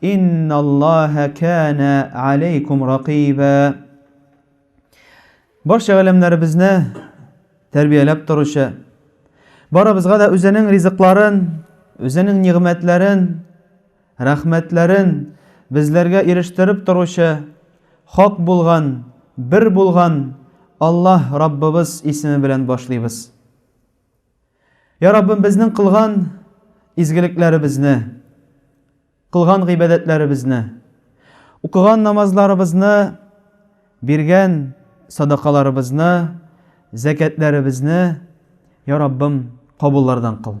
Инналлаһа кана алейкум ракиба. Барча галәмнәребезне тәрбияләп торучы, барыбызга да үзенең ризыкларын, үзенең нигъмәтләрен, рәхмәтләрен безләргә ирештереп торучы, хак булган, бер булган Аллаһ Раббыбыз исеме белән башлыйбыз. Йа Раббым, безнең кылган изгелекләребезне, кылган гыйбадәтләребезне, укыган намазларыбызны, биргән садакаларыбызны, зәкәтләребезне, Йа Раббым, кабуллардан кыл.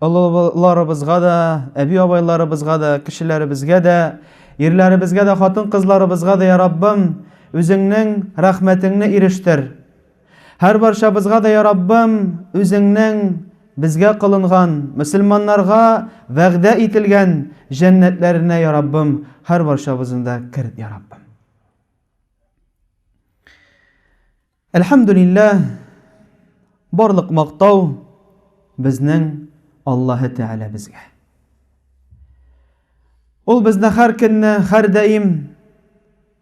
Олыларыбызга да, әби-абайларыбызга да, кешеләребезгә дә, ирләребезгә дә, хатын-кызларыбызга да, я Раббым, Үзеңнең рәхмәтеңне ирештер. Һәрбарчабызга да, я Раббым, Үзеңнең безгә кылынган, мөселманнарга вәгъдә ителгән җәннәтләренә, я Раббым, һәрбарчабызны да керт, я Раббым. Әлхәмдүлилләһ, барлык мактау безнең Аллаһы Тәгаләбезгә. Ул безне һәр көнне, һәр даим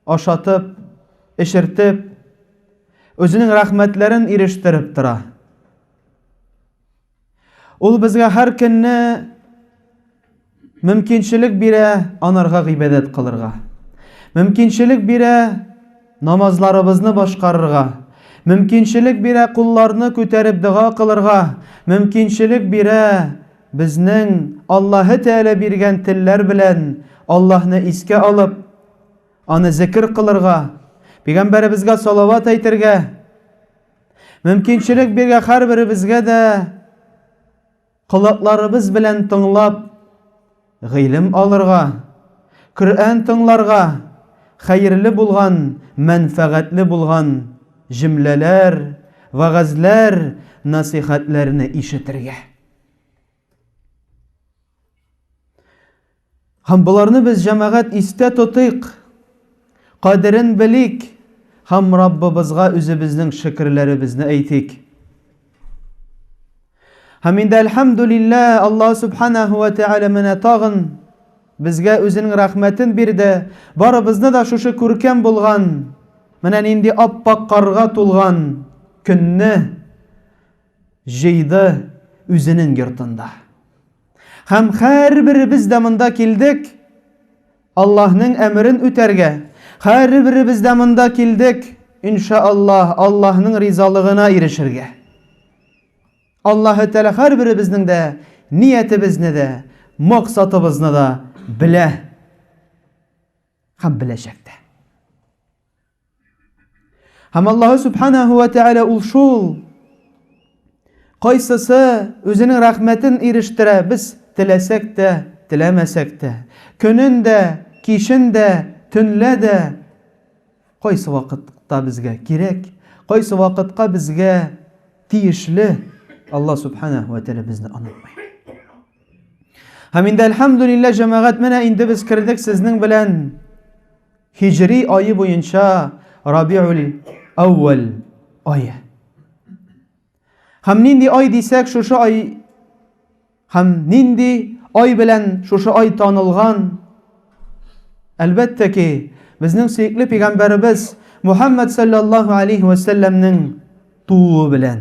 ашатып, эчертеп, Үзенең рәхмәтләрен ирештереп тора. Ул безгә һәр көнне мөмкинчелек бирә анарга гыйбадәт кылырга. Мөмкинчелек бирә намазларыбызны башкарырга. Мөмкинчелек бирә кулларны күтәреп дога кылырга. Мөмкинчелек бирә безнең Аллаһы Тәгалә биргән телләр белән Аллаһны искә алып, аны зикер кылырга, пигамбәребезгә салават әйтергә. Мөмкинчелек биргән һәрберебезгә дә колакларыбыз белән тыңлап, гыйлем алырга, Коръән тыңларга, хәерле булган, мәнфәгатьле булган җөмләләр, вәгазьләр, насыйхәтләрне ишетергә. Һәм боларны без җәмәгать истә тотыйк, кадерен белик һәм Раббыбызга үзебезнең шөкерләребезне әйтик. Һәм инде әлхәмдүлиллә, Аллаһ субханаһу ва тәгалә менә тагын безгә үзенең рәхмәтен бирде. Барыбызны да шушы күркәм булган, менә нинди аппак карга тулган көнне Җыйды үзенең йортында. Һәм һәрберебез дә монда килдек Аллаһның әмерен үтәргә, һәрберебез дә монда килдек, иншааллаһ, Аллаһның ризалыгына ирешергә. Аллаһы Тәгалә һәрберебезнең дә ниятебезне дә, максатыбызны да белә һәм беләчәк тә. Һәм Аллаһы Субханаһу ва Тәгалә ул шул, кайсысы үзенең рәхмәтен ирештерә, без теләсәк тә, теләмәсәк тә, көнен дә, кичен дә, төнлә дә, кайсы вакытта безгә кирәк, кайсы вакытка безгә тиешле, Аллаһ Субханаһу ва Тәгалә безне онытмый. Һәм инде, әлхәмдүлилләһ, җәмәгать, менә инде без кердек сезнең белән Һиҗри ае буенча Рабиуль-әүвәл ае. Һәм нинди ай дисәк, шушы ай һәм нинди ай белән шушы ай танылган? Әлбәттә ки, безнең сөекле пәйгамбәребез Мухаммад саллаллаһу алейхи ва сәлләмнең тууы белән.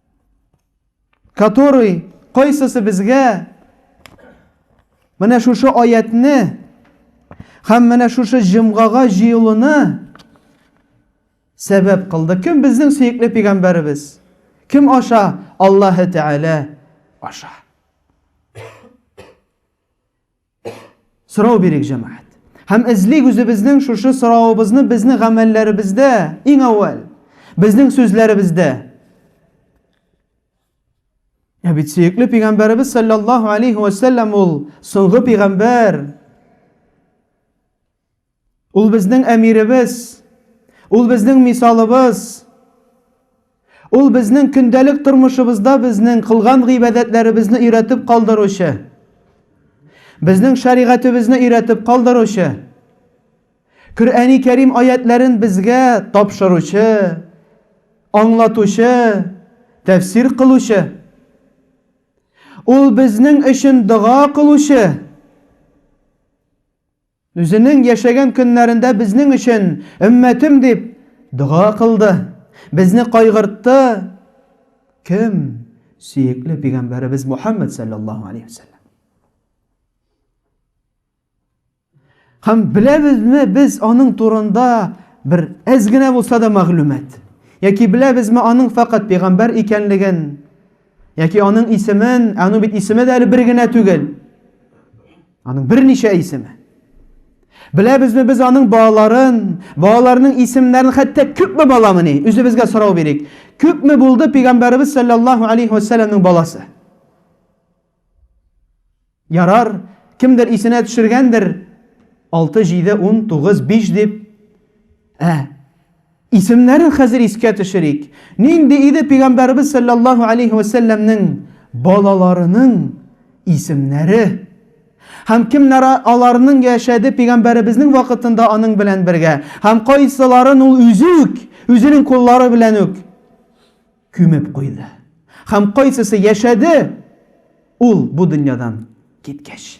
Который кайсысы безгә менә шушы аятны һәм менә шушы җомгага җыелуны сәбәп кылды. Кем безнең сөекле пигамбәребез? Кем аша? Аллаһы Тәгалә аша. Сорау бирик, җәмәгать. Һәм эзлик үзебезнең шушы соравыбызны безнең гамәлләребездә, иң әүвәл, безнең сүзләребездә. Ә бит сөекле пигамбәребез саллаллаһу алейхи ва саллям ул соңгы пигамбәр. Ул безнең әмиребез, ул безнең мисалыбыз, ул безнең көндәлек тормышыбызда безнең кылган гыйбадәтләребезне өйрәтеп калдыручы, безнең шәригатебезне өйрәтеп калдыручы, Коръәни Кәрим аятләрен безгә тапшыручы, аңлатучы, тәфсир кылучы. Ул безнең өчен дога кылучы. Үзенең яшәгән көннәрендә безнең өчен, өммәтем дип, дога кылды. Безне кайгыртты, кем? Сөекле пигамбәребез Мухаммад саллаллаһу алейһи ва саллям. Һәм беләбезме без аның турында бер әз генә булса да мәгълүмат? Яки беләбезме аның факат пигамбәр икәнлеген? Яки аның исемен, аның бит исеме дә әле бер генә түгел. Аның берничә исеме. Беләбезме без аның балаларын, балаларының исемнәрен, хәтта күпме баламыни? Үзебезгә сорау бирик. Күпме булды пәйгамбәрбез саллаллаһу алейхи ва саллямның баласы? Ярар, кемдер исенә төшергәндер. 6, 7, 10, 9, 5 дип. Ә Исемнәрен хәзер искә төшерик. Нинди иде Пигамбәребез салләллаһу алейһи вә сәлләмнең балаларының исемнәре? Һәм кемнәр аларның яшәде Пигамбәребезнең вакытында аның белән бергә? Һәм кайсыларын ул үзе үк, үзенең куллары белән үк күмеп куйды? Һәм кайсысы яшәде ул бу дөньядан киткәч?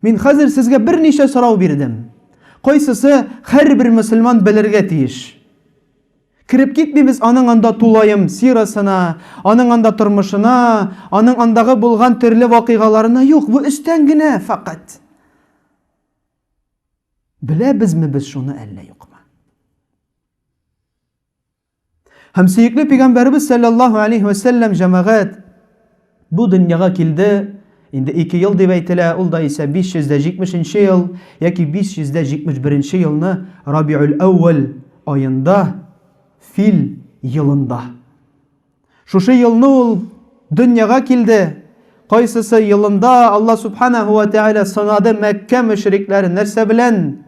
Мин хәзер сезгә берничә сорау бирдем. Кайсысы һәрбер мөселман белергә тиеш? Кереп китмибез аның анда тулаем сирасына, аның анда тормышына, аның андагы булган төрле вакыйгаларына, юк, бу өстән генә фәкать. Беләбезме без шуны әллә юкмы? Һәм сөекле пигамбәрбез саллаллаһу алейһи ва сәлләм җәмәгать бу дөньяга килде. Инде 2 ел дип әйтелә, ул да исә 570 нче ел яки 571 нче елны Рабиуль әүвәл аенда, фил елында. Шушы елны ул дөньяга килде. Кайсысы елында Алла субханаһу ва тәгалә сынады Мәккә мөшрикләрен нәрсә белән?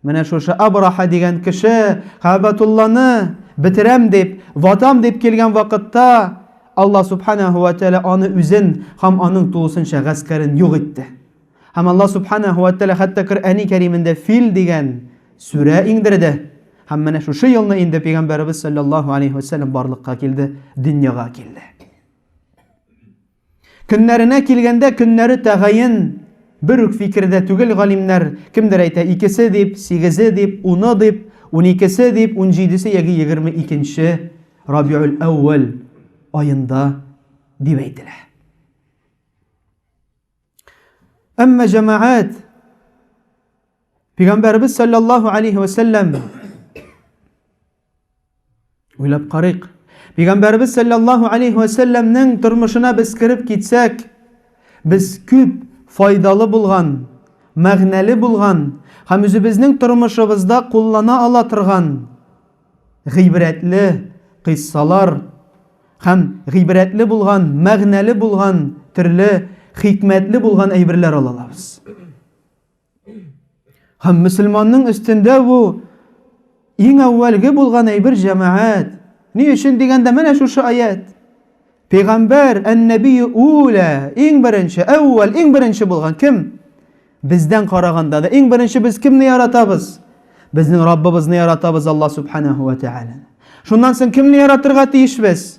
Менә шушы Абраха дигән кеше Кәбәтулланы бетерәм дип, ватам дип килгән вакытта, Алла Субханаһу ва Тәгалә аны үзен һәм аның тулысынча гаскәрен юк итте. Һәм Алла Субханаһу ва Тәгалә хәтта Коръәни Кәримендә Фил дигән сүрә иңдерде. Һәм менә шушы елны инде пәйгамбәребез саллаллаһу алейһи ва сәлләм барлыкка килде, дөньяга килде. Көннәренә килгәндә, көннәре тәгаен бер үк фикердә түгел галимнәр, кемдер әйтә, икесе дип, сигезе дип, уны дип, уникесе дип, унҗидесе яки егерме икенче Рабиуль-әүвәл аенда дип әйтелә. Әмма җәмәгать Пәйгамбәребез саллаллаһу алейһи вә сәлләм Уйлап карыйк. Пәйгамбәрбез саллаллаһу алейхи ва саллямның тормышына без киреп китсәк, без күп файдалы булган, мәгънәле булган һәм үзебезнең тормышыбызда куллана ала торган гыйбрәтле кыйссалар һәм гыйбрәтле булган, мәгънәле булган, төрле хикмәтле булган әйберләр алалабыз. Һәм мөселманның өстендә бу иң әүвәлге булган әйбер җәмәгать. Ни өчен дигәндә менә шушы аят. Пәйгамбәр әннәби улә иң беренче, әүвәл иң беренче булган кем? Бездән караганда да иң беренче без кемне яратабыз? Безнең Раббыбызны яратабыз Алла субханаһу ва тааля. Шуннан соң кемне яратырга тиешбез?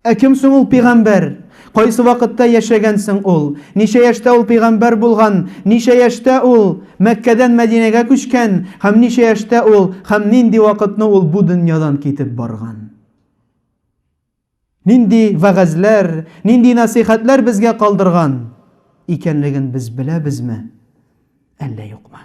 Ә кем соң ул пигамбәр? Кайсы вакытта яшәгән соң ул? Ничә яшьтә ул пигамбәр булган? Ничә яшьтә ул Мәккәдән Мәдинәгә күчкән? Һәм ничә яшьтә ул һәм нинди вакытны ул бу дөньядан китеп барган? Нинди вәгазьләр, нинди нәсыйхәтләр безгә калдырган икәнлеген без беләбезме, әллә юкмы?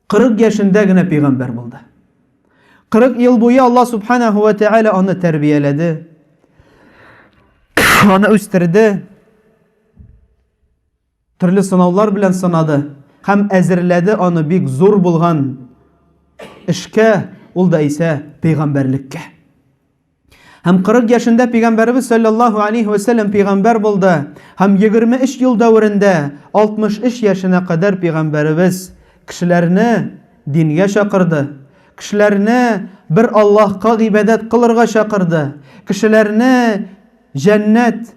40 яшендә генә пәйгамбәр булды. 40 ел буе Алла субханаһу ва тааля аны тәрбияләде. Аны үстерде. Төрле сынаулар белән сынады һәм әзерләде аны бик зур булган эшкә, ул да исә пәйгамбәрлеккә. Һәм 40 яшендә пигамбәрбез саллаллаһу алейһи ва саллям пигамбәр булды. Һәм 23 ел дәверендә 63 яшенә кадәр пигамбәрбез кешеләрне дингә чакырды. Кешеләрне бер Аллаһка гыйбадәт кылырга чакырды. Кешеләрне җәннәт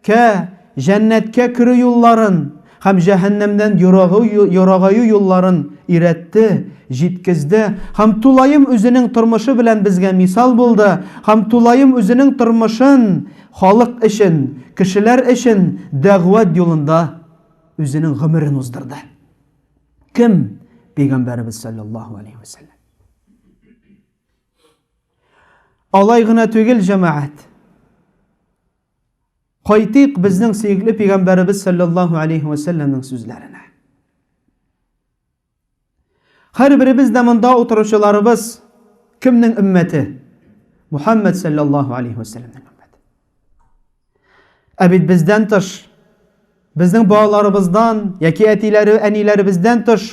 Кә, җәннәткә керү юлларын һәм җәһәннәмнән ерагу ерагаю юлларын өйрәтте, җиткезде һәм тулаем үзенең тормышы белән безгә мисал булды һәм тулаем үзенең тормышын халык өчен, кешеләр өчен дәгъват юлында үзенең гомерен уздырды. Кем? Пәйгамбәребез салләллаһу алейһи вә сәлләм. Алай гына түгел, җәмәгать. Кайтыйк безнең сөекле пигамбәребез саллаллаһу алейһи ва сәлләмнең сүзләренә. Һәрберебез дә монда утыручыларыбыз кемнең өммәте? Мухаммад саллаллаһу алейһи ва сәлләмнең өммәте. Ә бит бездән тыш безнең балаларыбыздан яки әтиләре, әниләребездән тыш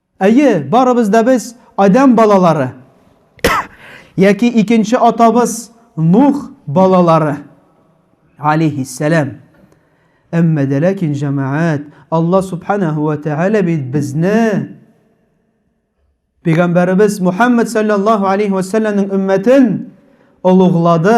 Әйе, барыбыз да без Адәм балалары, яки икенче атабыз Нух балалары, алейхиссәләм. Әмма дә ләкин, җәмәгать, Алла субханаһу ва тәгалә бит безне Пәйгамбәребез Мухаммад саллаллаһу алейхи ва сәлләмнең өммәтен олуглады,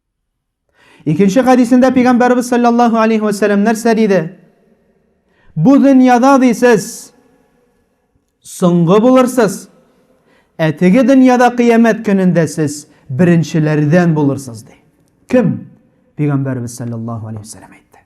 Икенче хәдисендә пәйгамбәрбез саллаллаһу алейхи ва сәлләм нәрсә диде? Бу дөньяда дисез соңгы булырсыз. Ә теге дөньяда кыямәт көнендә сез беренчеләрдән булырсыз ди. Кем? Пәйгамбәрбез саллаллаһу алейхи ва сәлләм әйтте.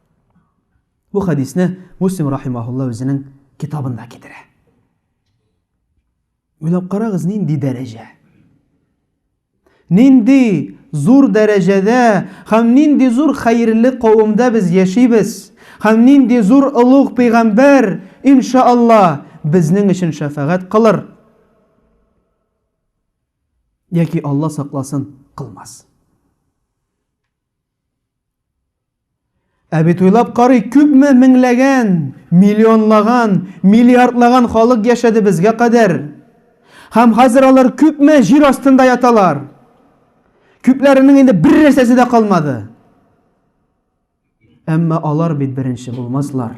Бу хәдисне Муслим рахимаһулла үзенең китабында китерә. Уйлап карагыз, нинди дәрәҗә? Нинди зур дәрәҗәдә һәм нинди зур хәерле кавымда без яшибез? Һәм нинди зур олуг пәйгамбәр, иншаалла, безнең өчен шәфәгать кылыр? Яки Алла сакласын, кылмас. Ә бит уйлап карый, күпме меңләгән, миллионлаган, миллиардлаган халык яшәде безгә кадәр. Һәм хәзер алар күпме җир астында яталар. Күпләренең инде бер нәрсәсе дә калмады. Әмма алар бит беренче булмаслар.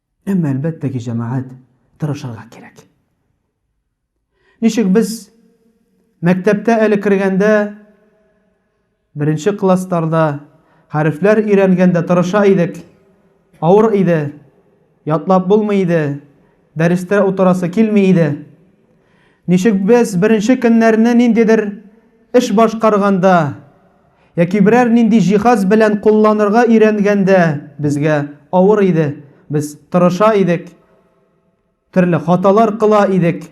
Әмма, әлбәттә ки, җәмәгать тырышырга кирәк. Ничек без мәктәптә әле кергәндә, беренче классларда, хәрефләр өйрәнгәндә тырыша идек, авыр иде, ятлап булмый иде, дәрестә утырасы килми иде. Ничек без беренче көннәрне ниндидер эш башкарганда, Яки берәр нинди җиһаз белән кулланырга өйрәнгәндә безгә авыр иде, без тырыша идек, төрле хаталар кыла идек,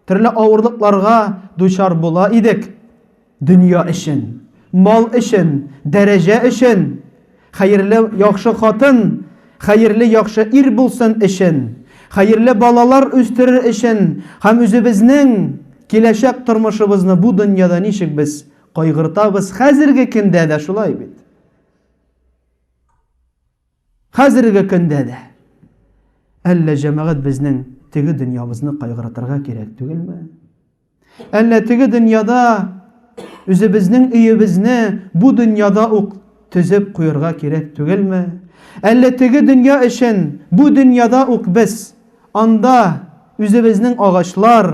төрле авырлыкларга дучар була идек. Дөнья өчен, мал өчен, дәрәҗә өчен, хәерле, яхшы хатын, хәерле, яхшы ир булсын өчен, хәерле балалар үстерер өчен һәм үзебезнең киләчәк тормышыбызны бу дөньяда ничек без Кайгыртабыз, хәзерге көндә дә шулай бит. Хәзерге көндә дә. Әллә җәмәгать безнең теге дөньябызны кайгыртырга кирәк түгелме? Әллә теге дөньяда үзебезнең өебезне бу дөньяда ук төзеп куярга кирәк түгелме? Әллә теге дөнья өчен бу дөньяда ук без анда үзебезнең агачлар,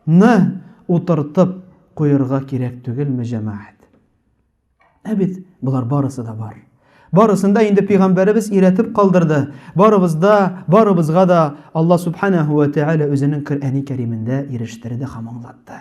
Ны утыртып куерга кирәк түгелме, җәмәгать? Ә бит болар барысы да бар. Барысын да инде пигамбәребез өйрәтеп калдырды. Барыбызда, барыбызга да Алла субханәһу ва тәгалә үзенең Коръәни Кәримендә ирештерде һәм аңлатты.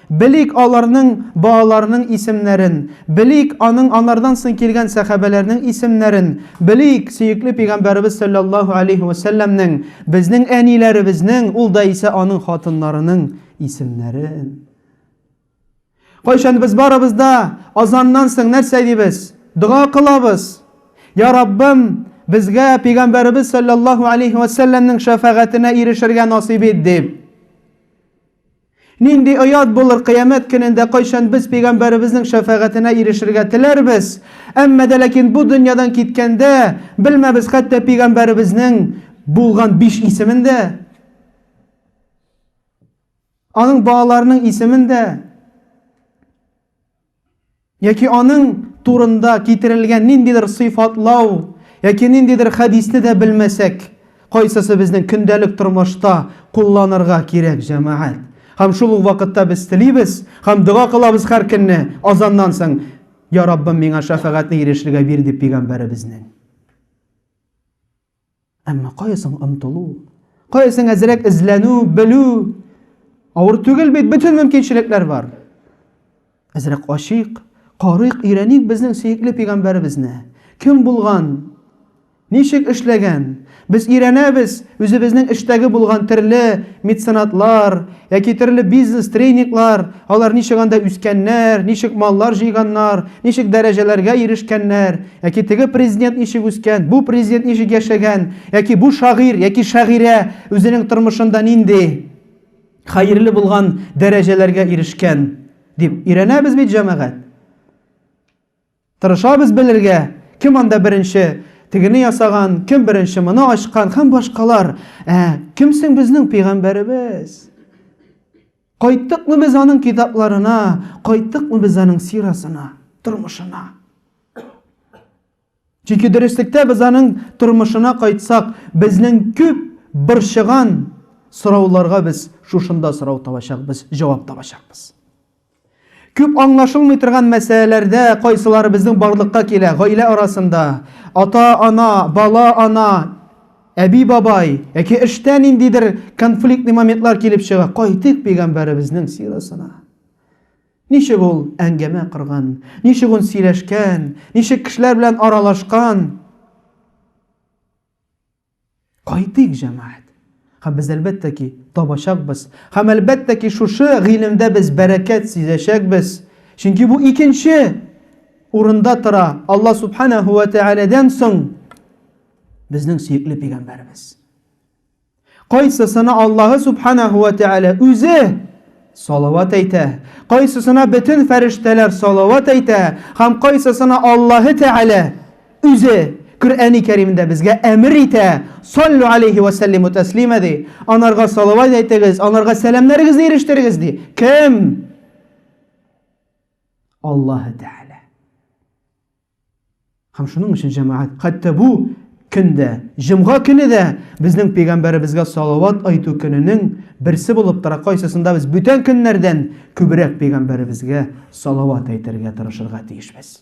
Белик аларның балаларының исемнәрен, белик аның анардан соң килгән сәхабәләрнең исемнәрен, белик сөекле пигамбәребез сәлләллаһу әләйһи вә сәлләмнең, безнең әниләребезнең, ул да исә аның хатыннарының исемнәрен. Кайчан без барыбыз да азаннан соң нәрсә дибез? Дога кылабыз. Йа Раббым, безгә пигамбәребез сәлләллаһу әләйһи вә сәлләмнең шәфәгатенә ирешергә насыйп ит, дип. Нинди оят булыр, кыямәт көнендә кайчан без пигамбәребезнең шәфәгатенә ирешергә теләрбез, әмма дә ләкин бу дөньядан киткәндә, белмәбез хәтта пигамбәребезнең булган биш исемен дә, аның балаларының исемен дә. Яки аның турында китерелгән ниндидер сыйфатлау яки ниндидер хәдисне дә белмәсәк, кайсысы безнең көндәлек тормышта кулланырга кирәк, җәмәгать? Һәм шул ук вакытта без телибез һәм дога кылабыз һәр көнне азаннан соң, Я Раббым, миңа шәфәгатьне ирешлегә бир, дип пигамбәребезнең. Әмма кая соң омтылу? Кая соң әзрәк эзләнү, белү? Авыр түгел бит, бөтен мөмкинчелекләр бар. Әзрәк ачыйк, карыйк, өйрәник безнең сөекле пигамбәребезне. Кем булган? Ничек эшләгән? Без өйрәнәбез үзебезнең эштәге булган төрле меценатлар, Яки төрле бизнес тренинглар, алар ничек анда үскәннәр, ничек маллар җыйганнар, ничек дәрәҗәләргә ирешкәннәр, яки теге президент ничек үскән, бу президент ничек яшәгән, яки бу шагыйрь, яки шагыйрә үзенең тормышында нинди хәерле булган дәрәҗәләргә ирешкән дип өйрәнәбез бит, җәмәгать. Тырышабыз белергә, кем анда беренче тегене ясаган, кем беренче моны ачкан һәм башкалар. Ә кем соң безнең пәйгамбәребез? Кайттыкмы без аның китапларына, кайттыкмы без аның сирасына, тормышына? Чөнки дөреслектә без аның тормышына кайтсак, безнең күп борчыган сорауларга без шушында сорау табачакбыз, җавап табачакбыз. Күп аңлашылмый торган мәсьәләләрдә кайсылары безнең барлыкка килә, гаилә арасында, ата-ана, бала-ана, әби-бабай, яки эштә ниндидер конфликтный моментлар килеп чыга. Кайтыйк пигамбәребезнең сирасына. Ничек ул әңгәмә корган, ничек ул сөйләшкән, ничек кешеләр белән аралашкан. Кайтыйк, җәмәгать. Һәм без әлбәттә ки, табачакбыз. Һәм әлбәттә ки, шушы гыйлемдә без бәрәкәт сизәчәкбез. Чөнки бу икенче урында тора, Алла Субханәһү вә Тәгаләдән соң безнең сөекле пигамбәребез. Кайсысына Аллаһы Субханәһү вә Тәгалә үзе салават әйтә, кайсысына бөтен фәрештәләр салават әйтә, һәм кайсысына Аллаһы Тәгалә Үзе Коръәни Кәримдә безгә әмер итә, саллу алейхи вә сәллиму тәслима ди. Анарга салават әйтегез, анарга сәламнәрегезне ирештерегез ди. Кем? Аллаһы Тәгалә. Һәм шуның өчен җәмәгать, хәтта бу көндә, җомга көне дә безнең пәйгамбәребезгә салават айту көненең берсе булып тора. Кайсысында без бүтән көннәрдән күбрәк пәйгамбәребезгә салават әйтергә тырышырга тиешбез.